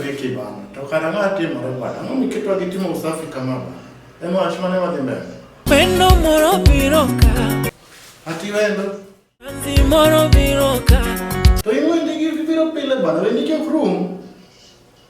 Vicky bana, to kara ng'a timore bana, ang'o miketwa gi timo usafi kama bana? Ema wach mane wadhi mbele. Wendo moro biro ka. Ati wendo. Anzi moro biro ka. To ing'wendi gi biro pile bana, wendi kik rum.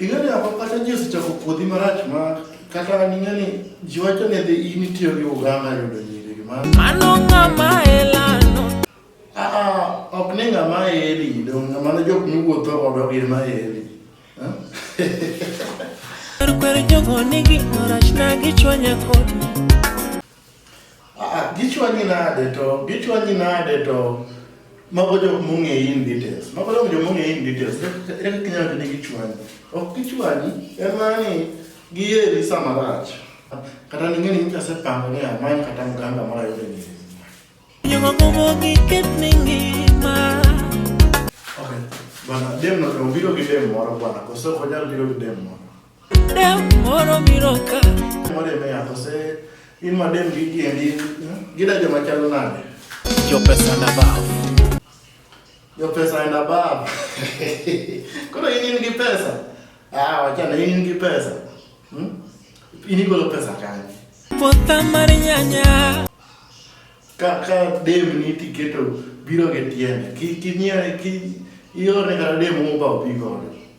Ing'eyo ako kata ji osechako puodhi marach ma kata ning'eni ji wacho ni dhi in itiyo gi uganda yudo nyiri gima mano ng'ama elano aa ok ni ng'ama eli dong' mano jok miwuotho godo gin ma eli kwer jogo nigi orach na gichwanya kodi Ah, gichwanyi nade to gichwanyi nade to mago jok mong'eyi in details mago jok jok mong'eyi in details ere kaka inyalo ni gichwanyi ok gichwanyi en mana ni giyeri sama rach kata ning'e ni nyicha asepango ni amany kata mganga moro ayude ni Okay, bana dem no obiro gi dem moro bwana, koso onyal biro gi dem moro. Koro in in gi pesa? Ah, wachana in in gi pesa. Hmm? In igolo pesa kanye? Puotha mar nyanya. Ka ka dem ni tiketo biro gi tiende. Ki kinyiewe ki iore kata dem mo ba obi godo.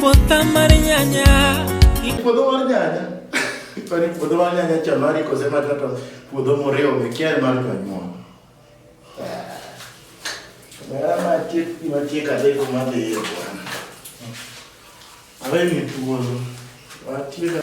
Puotha mar nyanya. Puodho mar nyanya. Kwani puodho mar nyanya cha mari kose mar kata puodho moriwo be kier mar jonyuol. Bara ma tiek ma tiek adek ma dhi e bwana. Awe ni tuolo. Wa tiek